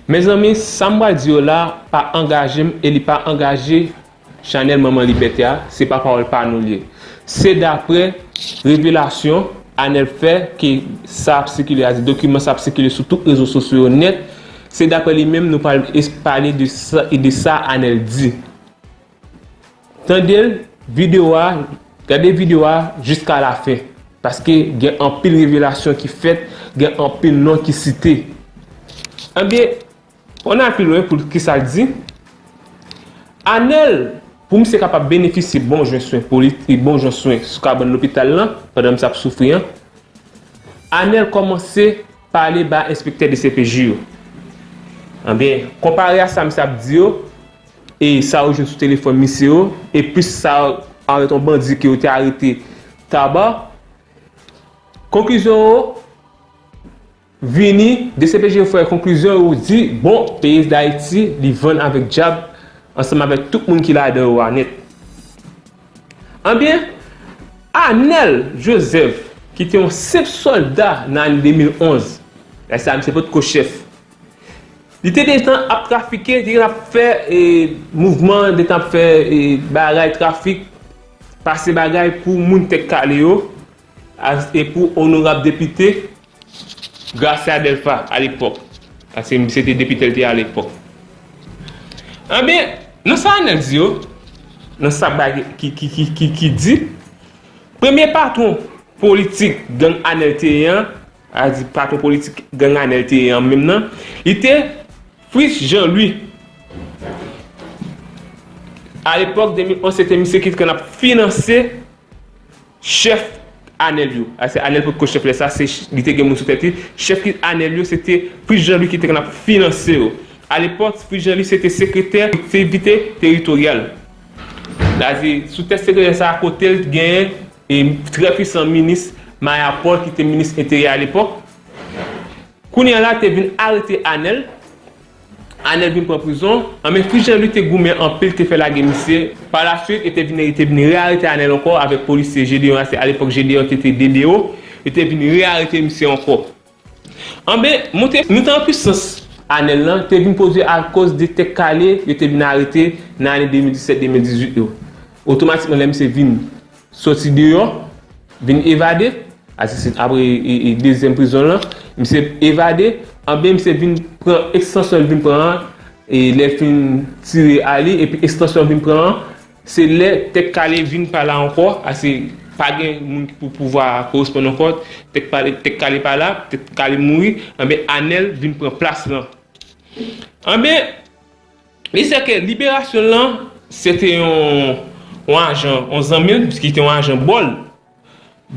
Mezanmi sam pral di yo la pa angajem e li pa angaje chanèl manman libète a se pa pawòl pa nou li ye se daprè revelasyon anèl fè ke sa ap sikile a se dokiman sa ap sikile sou tout rezo sosyo yo nèt se daprè li menm nou pral pale de sa anèl di. Tande video a gade video a jiska la fen paske gen anpil revelasyon ki fèt gen anpil non ki site ebyen on al pi lwen pou kisal di Anèl pou misye kapab benefisye bon jan swen politik bon jan swen sou kabann lopital lan pandan misye ap soufri an Anèl kòmanse Pale ba enspektè dcpj yo. Anbyen, konpare a sa misye ap di yo e sa ou jwenn sou telefòn misye yo, e plis sa avè ton bandi ke yo te arete Taba, konklizyon ou vini, dcpj yo fè konklizyon yo di, bon, peyi Dayiti li vann avèk dyab ansanm avèk tout moun ki ladan yo a nèt. Anbyen, Anèl Jozèf ki te yon senp sòlda nan ane 2011, lè sa a misye potko chèf, li te gentan ap trafike, li te gentan ap fè mouvman, li te gentan ap fè bagay trafik, pase bagay pou moun Tèt Kale yo e pou onorab depite. Gracia Delva a lepòk paske misye te depite l te a lepòk anbyen nan sa Anel di yo nan sa bagay ki di premye patwon politik gang Anel te ye an a di patwon politik gang Anel te ye an menm nan li te Fritz Jean Louis a lepòk 2011 se te misye ki te konn ap finanse Chèf Anèl yo, a se Anèl potko chèf lè sa, se li te gen moun sou tèt li, chèf ki Anèl yo se te Fritz Jean-Louis ki te konn ap finanse yo. A lepòk, Fritz Jean-Louis se te sekretè kolektivite teritoryal. A di, sou tèt sekretè sa a, kote l t gen trè pwisan minis Maya Paul ki te minis enteryè a lepòk. Kounye a la te vin arete Anèl Anel vin pran prizon, an men fi janl u te goumen anpil te fè lage misye, pa la swit yo te vin yo te vin re arete anel ankò avèk polisye Gedeon a se alepòk Gedeon te te DDO yo te vin re arete misye ankò an ben moute moute an pwisans anel lan te vin pwodwi akoz de tèt kale yo te vin arete nan ane 2017 2018 yo otomatikman lè misye vin. Soti deyò, vin evade, Aristide apre dezyèm prizon lan, misye evade, anben misye vin pran ekstansyon li vin pran an, lè l fin tire ale epi ekstansyon l vin pran an, se lè Tèt Kale vin pa la ankò, ase pa gen moun ki pou pouvwa a koresponn ankò, Tèt Kale pa la, Tèt Kale mouri, anben Anèl vin pran plas lan. Anben. Li se ke liberasyon l lan, se te yon ajan, yon zanmi l, ki te yon ajan Bòl.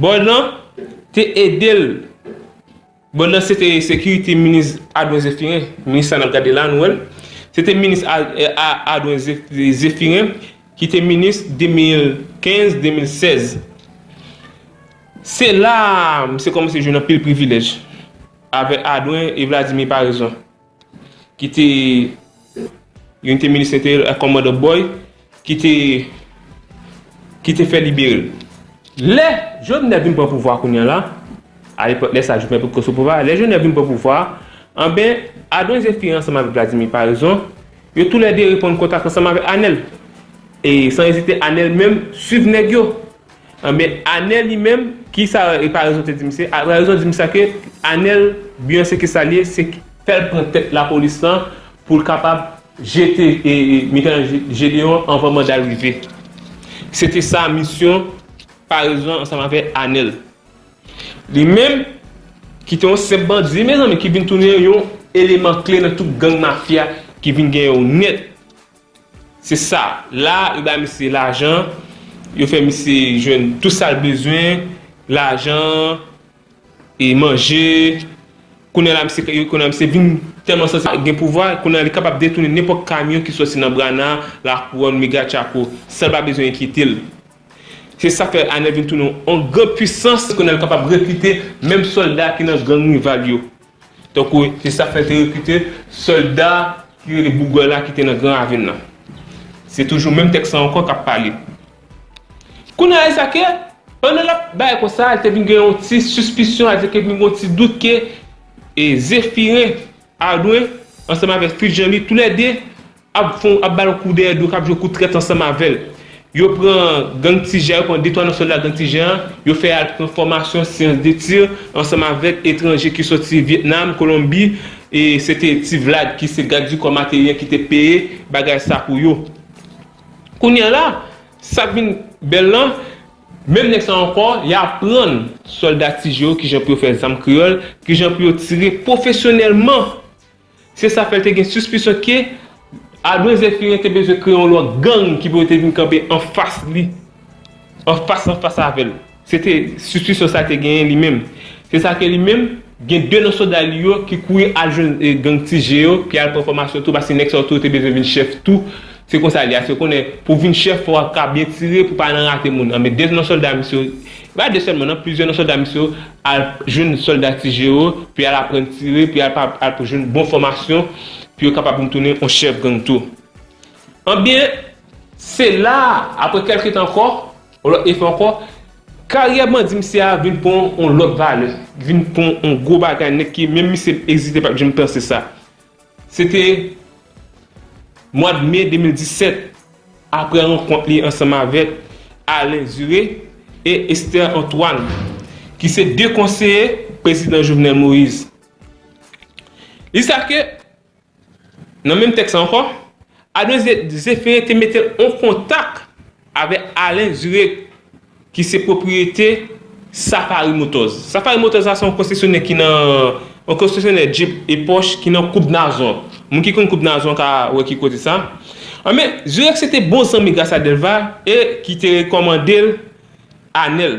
Bòl lan te ede l. Bòl lan se te sekirite minis Adwen Zefiren. Minis sa n ap gade la, nou wè l. Se te minis Adwen Zefiren ki te minis 2015-2016. Se la misye kòmanse jwenn anpil privilèj avèk Adwen e Vladimir Paraison. ki te youn te minis enteryè ak kòmandan Boy ki te ki te fè libere l. Lè Jovenel vin pran pouvwa kounya la, a lepòk lè sa Jovenel potko sou pouvwa, lè Jovenel vin pran pouvwa a, anben Adon Zephyr ansanm avèk Vladimir Paraison, yo tou lè 2 reponn kontak ansanm avèk Anèl. E san ezite Anèl menm swiv nèg yo. Anben Anel li menm kisa e pa rezon te di misye a rezon di misye a ke Anel bgy se kisa li ye se fèl pran tèt lapolis lan poul kapab jete e mitan Gedeon anvan mandal rive se te sa misyon parezon ansanm avè Anel li menm ki te yon senp bandi mezanmi ki vin tounen yon eleman kle nan tout gang mafya ki vin gen yon nèt. Se sa, la yo bay misye lajan, yo fè misye jwenn tout sa l bezwen, lajan, e manje, kounye a la misye kounye a misye vin tèlman santi l gen pouvwa, kounye a li kapab detounen nenpòt kamyon ki sòti nan Brana, Lakouwòn, Mega Tchako, san l pa bezwen enkyete l. Se sa k fè Anèl vin tounen yon gran puisans, kounye a li kapab rekrite menm sòlda ki nan gang rival yo, Tankou se sa k fè l te rekrite sòlda ki rele Bougòy la ki te nan Gran Ravin nan. Se toujou menm tèks lan ankò k ap pale. Kounye a, e sa ke, pandan l ap bay konsa, l te vin gen yon ti sispisyon, sa vle di ke vin gen yon ti dout ke Zefiren Adwen ansanm avèk Fritz Jean Louis toulède ap fon ap bal kou dèyè do kap jwe kou trèt ansanm avèl yo pran gang ti jean yo pran de twa nan sòlda gang ti jean an yo fè al pran fòmasyon syans de tir ansanm avèk etranje ki sòti vietnam kolonbi e se te ti vlad ki se gad di kò materi an ki te peye bagay sa pou yo kounya la sak vin bèl lan menm nèg sa ankò ya aprann sòlda ti jean yo kijan pou yo fè zam kreyòl kijan pou yo tire pwofesyonèlman. Se sa fè l te gen sispisyon ke Adwen Zèfirin te bezwen kreye yon lwa gang ki pou yo te vin kanpe anfas li, anfas anfas avè l. Se te sispisyon sa l te genyen li menm. Se sa ke li menm, gen de nan soda li yo ki kouri al jwenn gang Ti Je yo, ki al pran fòmasyon tou, paske nèg sa yo tou te bezwen vin chèf tou. Se konsa li ye. Paske yo konnen pou w vin chèf, fò w ap ka byen tire pou w pa nan rate moun. Anben, de nan sòlda misye yo, e pa de sèlman nan, plizyè nan sòlda misye yo, al jwenn sòlda ti je yo pou y al aprann tire pou y al al pou jwenn bon fòmasyon pou yo kapab vin tounen yon chèf gang tou anbyen se la a aprè kèlke tan ankò yon lòt efò ankò karyè bandi misye a vin pran yon lòt valè vin pran yon gwo bagay nèt ke menm misye egzite pat janm panse sa. Se te mwad me 2017, apre rankont li ansanm avèk Alain Zuré e Esther Antoine, ki se 2 konseye Prezidan Jovenel Moïse. Li sa ke, nan menm tèks la ankò, Alain Zuré te mete l an kontak. Avèk Alain Zurek ki se pwopriyete Safari Motors. Safari Motors la se yon konsesyonè ki nan, yon konsesyonè Jeep e Porsche ki nan Koub Nazon. Moun ki konn Koub Nazon ka wè ki kote sa. Anben, Zurek se te bon zanmi Gracia Delva e ki te rekòmande l Anel.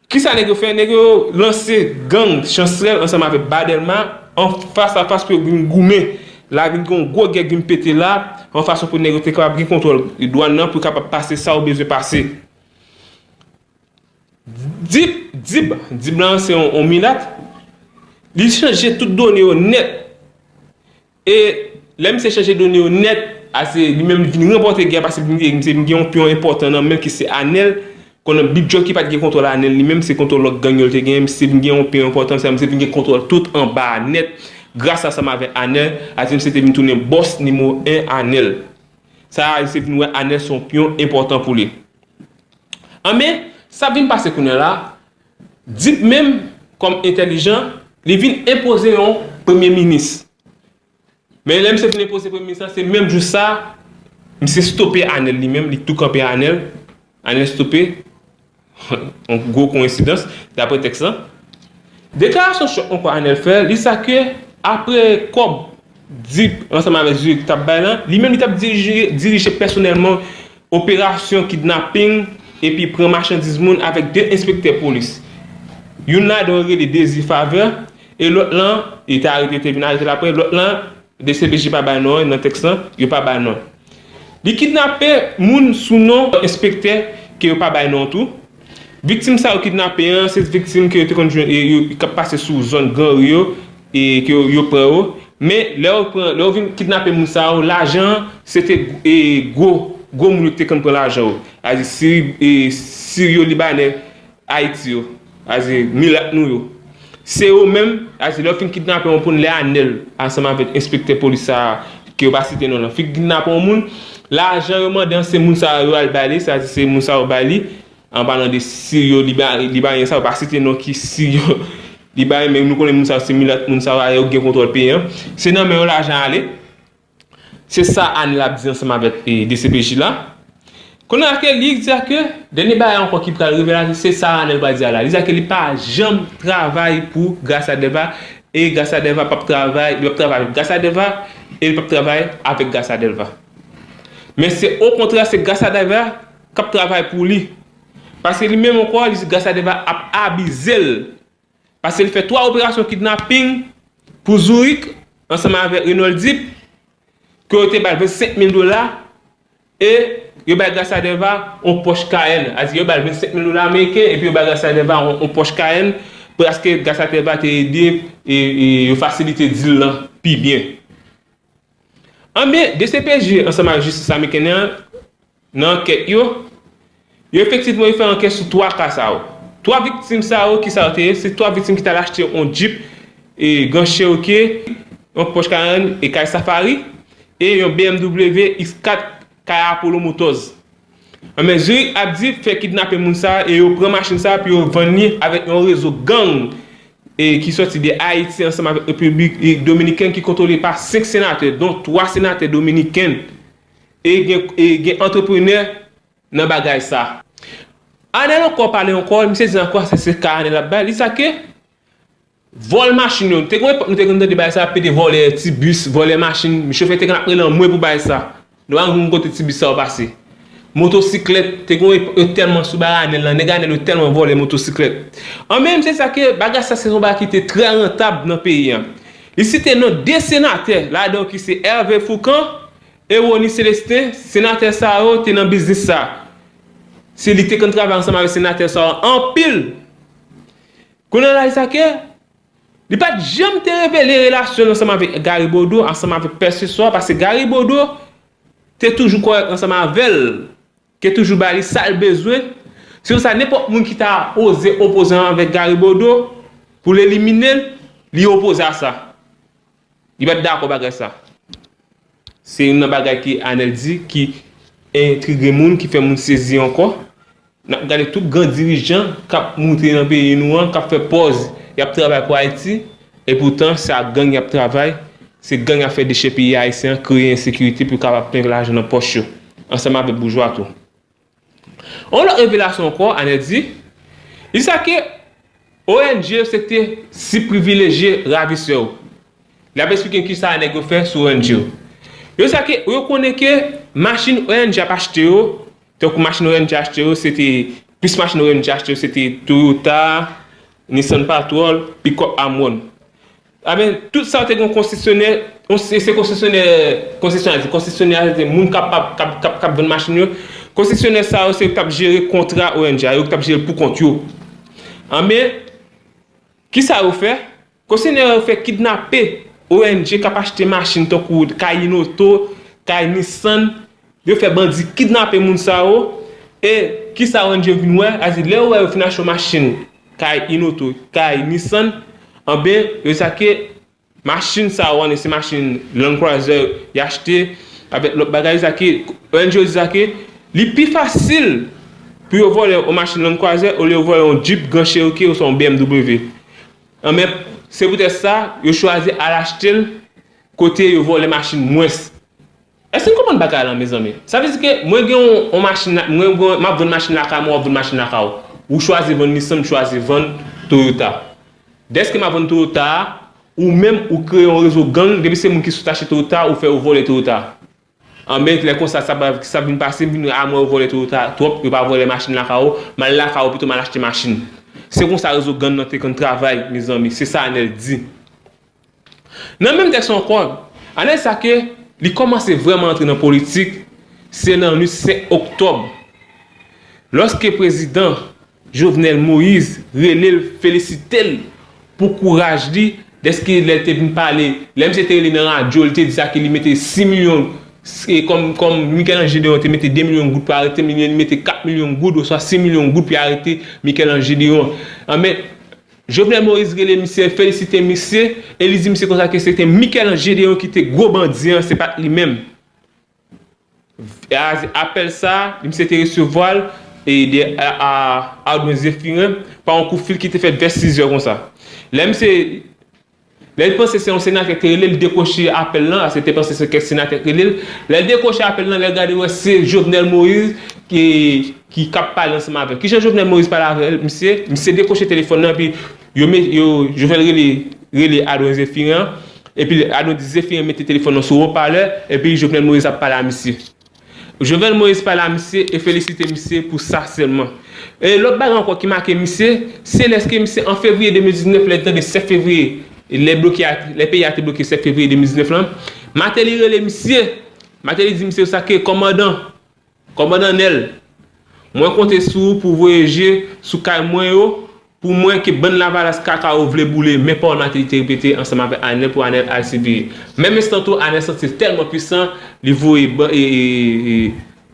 Kisa nèg yo fè? Nèg yo lanse gang Chancerelle ansanm avèk Ba Dèlma an fas a fas pou yo vin goumen. La vin gen yon gwo gè k vin pete la, yon fason pou nèg yo te kapab gen kontwòl dwàn nan pou yo kapab pase sa yo bezwen pase. Dip, Dib, Dib la se yon milat, li chanje tout done yo nèt. E lè misye chanje done yo nèt, a se li menm li vin ranpòte gè a paske misye vin gen yon pyon enpòtan nan men ki se Anèl, konnen Big Jocki pat gen kontwòl Anèl li menm, se kontwòl lòt gang yo li te genyen, misye vin gen yon pyon enpòtan, sa misye vin gen kontwòl tout anba a nèt, gras ansanm avè Anèl, a se misye te vin tounen bòs nimewo 1 Anèl. Sa a misye vin wè Anèl se yon pyon enpòtan pou li. Anben, sa vin pase kounyela, Dip menm kòm entèlijan li vin enpoze yon premye minis. Men lè misye fin enpoze premye minis la se menm jou sa misye stope Anèl li menm li tou kanpe Anèl, Anèl stope yon gwo koyensidans daprè tèks la. Deklarasyon chòk ankò Anèl fè li sa ke apre kòb Duc, ansanm avèk Zurich t ap bay lan, li menm li t ap dirije pèsonèlman operasyon kidnaping epi pran machandiz moun avèk 2 enspektè polis. Youn ladan yo rele Désir Faveur e lòt lan, li te arete yo te vin arete l aprè, lòt lan dcpj pa bay non an nan tèks lan, yo pa bay non. Li kidnape moun sou non enspektè ke yo pa bay non tou. Viktim sa yo kidnape an se viktim ke yo te konn jwenn k ap pase sou zòn gran ri yo e ke yo pran yo. Men lè yo pran, lè yo vin kidnape moun sa yo, lajan an se te gwo, gwo moun yo ki te konn pran lajan yo. Sa vle di siri, siryo libanè Ayiti yo aze milat nou yo se yo menm aze lè yo fin kidnape yon poun lè anèl ansanm avèk enspektè polis sa a ke yo pa site non lan fin kidnape yon moun lajan yo mande an se moun sa yo al bali se aze se moun sa yo bali an palan de si yo li ba yon sa yo pa site non ki si yo li bay men nou konnen moun sa yo se milat moun sa yo aye yo gen kontwòl peyi an se nan men yo lajan ale. Se sa Anil ap di ansanm avèk dcpj la. Kounye a Kelly di a ke dènye bagay ankò ki pral revele a se sa Anil pral di a la. Li di a ke li pa janm travay pou Gracia Delva e Gracia Delva pap travay, li pap travay avèk Gracia Delva e li pap travay avèk Gracia Delva. Men se o kontrè se Gracia Delva kap travay pou li. Paske li menm ankò li di Gracia Delva ap abize l. Pase l fè 3 operasyon kidnaping pou Zourik ansanm avèk Renold Deep ke yo te ba l 25 mil dola e yo bay Gracia Delva yon Porsche Cayenne. Sa vle di yo ba l 25 mil dola ameriken epi yo bay Gracia Delva yon Porsche Cayenne paske Gracia Delva te ede yo fasilite deal lan pi byen. Anben, dcpj ansanm ak jistis ameriken an Nan ankèt yo, yo efektivman yo fè ankèt sou 3 ka sa yo. 3 viktim sa yo kisa yo te ye, se 3 viktim ki tal achte yon Jeep Grand Cherokee, yon Porsche Cayenne e kay Safari e yon BMW X4 kay Apollo Motors. Anben Zurich ap di fè kidnape moun sa e yo pran machin sa pou yo vann li avèk yon rezo gang ki sòti de Ayiti ansanm avèk Repiblik Dominiken ki kontwole pa 5 senatè don 3 senatè dominiken. E gen e gen antreprenè nan bagay sa. Anel ankò pale ankò e misye di ankò se se ka anel ap bay li sa ke vòl machin yo nou te gon epòk nou te konn tande bagay sa pede vòlè ti bis vòlè machin chofè te konn ap rele anmwe pou bagay sa nou pa konn kote ti bis sa yo pase motosiklèt te gon epòk yo tèlman sou bagay anel lan nèg anel yo tèlman vòlè motosiklèt anmwe misye di sa ke bagay sa se yon bagay ki te trè rantab nan peyi an Li site non 2 senatè ladan yo ki se Hervé Fourcand e Rony Célestin, senatè sa yo te nan biznis sa. Se li te konn travay ansanm avèk senatè sa yo anpil. Kounye a la li sa ke li pa t janm te revele relasyon l ansanm avèk Gary Bodeau ansanm avèk pèseswa paske Gary Bodeau te toujou kòrèk ansanm avè l Ke toujou ba li sal bezwen, se konsa nenpòt moun ki ta oze opoze anvè Gary Bodeau pou l elimine l, li opoze a sa. Li pa t dakò bagay sa. Se youn nan bagay ke Anèl di ki entrige moun, ki fè moun sezi ankò. N ap gade tout gran dirijan k ap moute nan peyi nou an, k ap fè pòz y ap travay pou Ayiti, epoutan se ak gang y ap travay, se gang y ap fè dechèpiye Ayisyen an, kreye ensekirite pou yo kapab plen lajan nan pòch yo. ansanm avèk boujwa tou. Yon lòt revelasyon ankò, Anèl di, li di sa ke ong yo se te sib privilejye ravisè yo. Li ap esplike kisa nèg yo fè sou ong yo. Yo di sa ke yo konnen ke machin ong ap achte yo, tankou machin ong achte yo se te, plis machin ong achte yo se te Toyota, Nissan Patrol, Pickup Amwon. Aben tout sa te gen yon konsesyonè, se konsesyonè konsesyonè di konsesyonè a se te moun kap kap vann machin yo, konsesyonè sa yo se yo ki tap jere kontra ONG a, yo ki tap jere l pou kont yo. Anben, kisa yo fè? Konsesyonè yo fè kidnape ONG kap achte machin tankou kay Inoto, kay Nissan, Yo fè bandi kidnape moun sa yo e kisa ONG yo vin wè, sa di lè yo wè yo fin achte yon machin kay Inoto, kay Nissan anben yo sa ke machin sa yo annik se machin Land Cruiser y achte avèk lòt bagay sa ke ONG yo di sa ke li pi fasil pou yo vòlè yon machin Land Cruiser olye yo vòlè yon Jeep Grand Cherokee oswa yon BMW anben se poutèt sa yo chwazi al achte l kote yo vòlè machin mwens. Èske n konprann bagay lan mezanmi? Sa vle di ke mwen gen yon machin la, mwen gen, m ap vann machin lakay mwen, w ap vann machin lakay ou. Ou chwazi vann Nissan, m chwazi vann Toyota. Dèske m ap vann Toyota a, ou menm ou kreye yon rezo gang, depi se moun ki sot achte Toyota a, ou fè yo vòlè Toyota a. Anben, lè konsa sa pral, sa ap vin pase, m vin wè a mwen yo vòlè Toyota a twòp, yo pa vòlè machin lakay ou, m al lakay ou pito m al achte machin. Se konsa rezo gang lan te konn travay, mezanmi. Se sa Anèl di. Nan menm tèks lan ankò, ane sa ke li kòmanse vrèman antre nan politik, se nan nuit 5 oktòb, lòske prezidan Jovenel Moise rele l felisite l pou kouraj li dèske lè l te vin pale, lè misye te rele nan radyo li te di sa ke li mete 6 milyon kòm Michel-Ange Léon te mete 2 milyon goud pou arete m, li mete 4 milyon goud oswa 6 milyon goud pou yo arete Michel-Ange Léon. Anben, Jovenel Moïse rele misye, felisite misye, e li di misye konsa ke se te Michel-Ange Gédéon ki te gwo bandi an, se pa t li menm. Apèl sa a, misye te resevwa l de Ardouin Zéphirin pa yon kout fil ki te fèt vè sizè konsa. Lè misye Lè li panse se yon senatè ki rele li dekwoche apèl lan, ase te panse se kèk senatè ki rele l, lè l dekwoche apèl lan, lè l gade l wè se Jovenel Moïse ki k ap pale ansanm avè l. Kijan Jovenel Moïse pale avè l misye? Misye dekwoche telefòn lan epi Jovenel rele rele Adwen Zephirin an epi Adwen di Zephirin mete telefòn lan sou wopalè epi Jovenel Moïse ap pale a misye. Jovenel Moïse pale a misye e felisite misye pou sa sèlman. E lòt bagay ankò ki make misye, se lèske misye an fevriye 2019 lè li tande 7 fevriye, lè bloke a, lè peyi a te bloke 7 fevriye 2019 lan, Martelly rele misye, Martelly di misye konsa ke kòmandan, kòmandan Nèl, mwen konte sou ou pou w voye je sou kay mwen yo Pou mwen ke bann lavalas kaka yo vle boule men Paul Martelly te repete ansanm avèk Anel pou Anel al CBE. Menm estan tou Anel santi l tèlman pwisan li voye ban e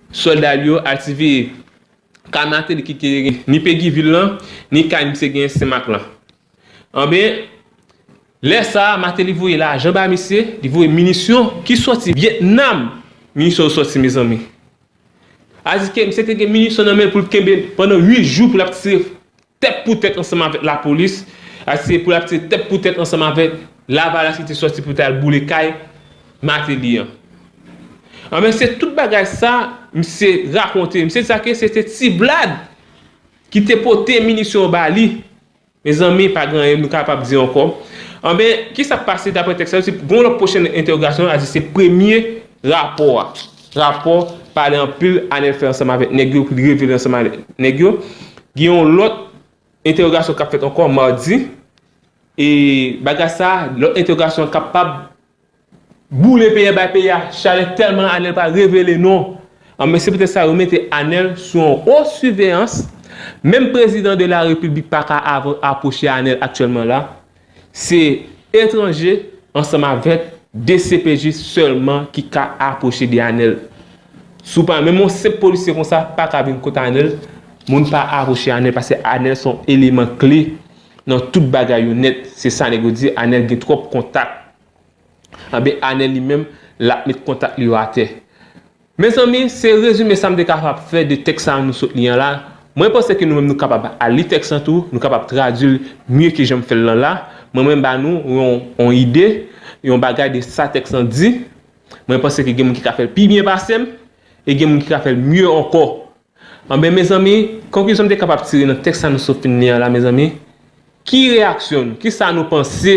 sòlda li yo al CBE. Kay Martelly ki te gen ni Pegi vil lan ni kay misye gen Sen Mak lan. Anben lè sa a Martelly voye lajan bay misye, li voye minisyon ki sòti Vyetnam. Minisyon yo sòti mezanmi. Adiske misye te gen minisyon nan men l pou l kenbe pandan 8 jou pou l ap tire tèt pou tèt ansanm avèk lapolis, adiske pou l ap tire tèt pou tèt ansanm avèk lavalas ki te sòti pou l ta al boule kay Mateli an. Anben se tout bagay sa misye rakonte, misye di sa ke se te Tiblad ki te pote minisyon yo ba li Mezanmi, pa gen anyen nou kapab di ankò. Anben, ki sa k pase dapre tèks sa yo? Si gen yon lòt pwochen entèwogasyon, a di se premye rapò a. Rapò pale anpil Anèl fè ansanm avèk nèg yo pou li revele ansanm avèk nèg yo. Gen yon lòt entèwogasyon k ap fèt ankò madi e bagay sa a, lòt entèwogasyon an kapab Boule peye bay peye a chalè tèlman Anel pa revele non an men se petèt sa yo mete Anel sou yon wo siveyans menm prezidan de la repiblik pa ka avan apwoche Anel aktyèlman la se etranje ansanm avèk dcpj sèlman ki ka apwoche de Anel sou pa menm yon senp polisye konsa pa ka vin kot Anel moun pa apwoche Anel paske Anel son eleman kle Nan tout bagay yo nèt se sa nèg yo di anèl gen tròp kontak anben anèl li menm lap met kontak li yo atè mezanmi se rezime sam te kapab fè de tèks sa nou sot li an la mwen panse ke nou menm nou kapab al li tèks lan tou nou kapab tradwil mye ke janm fèl lan la mwen mwen ba nou yon ide yon bagay de sa tèks lan di mwen panse ke gen moun ki ka fèl pi byen pasem e gen moun ki ka fèl mye ankò Anben mezanmi, konklizyon m te kapab tire nan tèks sa nou sot fin li an la mezanmi, ki reyaksyon nou, ki sa nou panse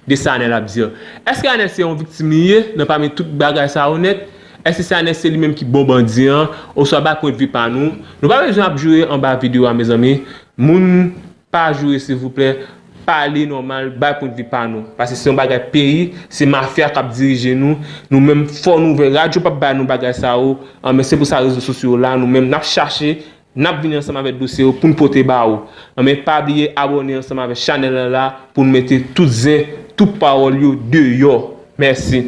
de sa Anèl ap di an? Èske Anèl se yon viktim li ye nan pami tout bagay sa yo nèt? Èske se Anèl se li menm ki bon bandi an? Oswa bay pwendvi pa nou? Nou pa bezwen ap joure anba video a mezanmi, moun Pa joure silvouplè pale nòmal bay pwen de pa nou pase se yon bagay peyi se mafya kap dirije nou nou menm fò nou vè radyo pap bay nou bagay sa yo anben se pou sa rezo sosyo yo la nou menm nap chache nap vini ansanm avè dosye yo poun pote ba ou anben pa bliye abòne ansanm avè chanèl la la poun mete tout zen tout pawòl yo deyò mèsi.